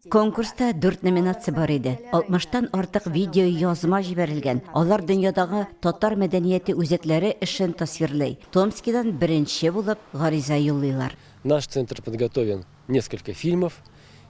Конкурста дүрт номинация бар иде. 60 тан артык видеоязма җибәрелгән. Алар дөньядагы татар мәдәнияте үзәкләре эшен тасвирлый. Томскидан беренче булып гариза юллыйлар. Наш центр подготовил несколько фильмов,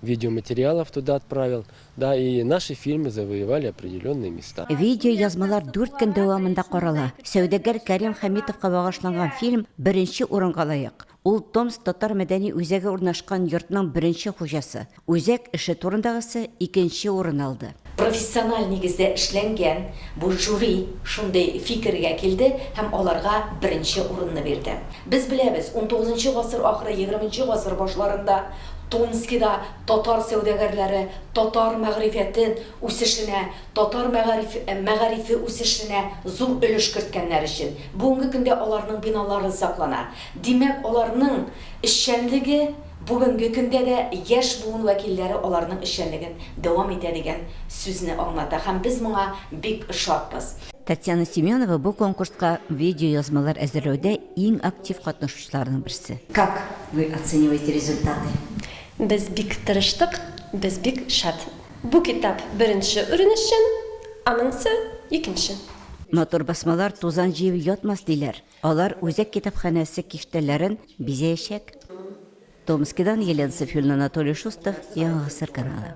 видеоматериалов туда отправил, да и наши фильмы завоевали определенные места. Видеоязмалар дүрт көн дәвамында карала. Сәүдәгәр Кәрим Хәмитовка багышланган фильм беренче урынга лаек. Ул Томск татар мәдәни үзәге урнашкан йортның беренче хуҗасы. Үзәк эше турындагысы икенче урын алды. Профессиональ нигездә эшләнгән бу жюри шундый фикергә килде һәм аларга беренче урынны бирде. Без беләбез, унтугызынчы гасыр ахыры, егерменче гасыр башларында Томскида татар сәүдәгәрләре татар мәгърифәте үсешенә, татар мәгариф мәгарифе үсешенә зур өлеш керткәннәр өчен бүгенге көндә аларның биналары саклана. Димәк, аларның эшчәнлеге бүгенге көндә дә яшь буын вәкилләре аларның эшчәнлеген дәвам итә дигән сүзне аңлата һәм без моңа бик шатбыз. Татьяна Семенова бу конкурска видеоязмалар әзерләүдә иң актив катнашучыларның берсе. Как вы оцениваете результаты? Без бик тырыштык, без бик шат. Бу китап беренче урын өчен, аныңсы, икенче. Матур басмалар тузан җыеп ятмас, диләр. Алар үзәк китапханәсе киштәләрен бизәячәк. Томскидан Елена Сафюльна Анатолий Шустов, Яңа гасыр каналы.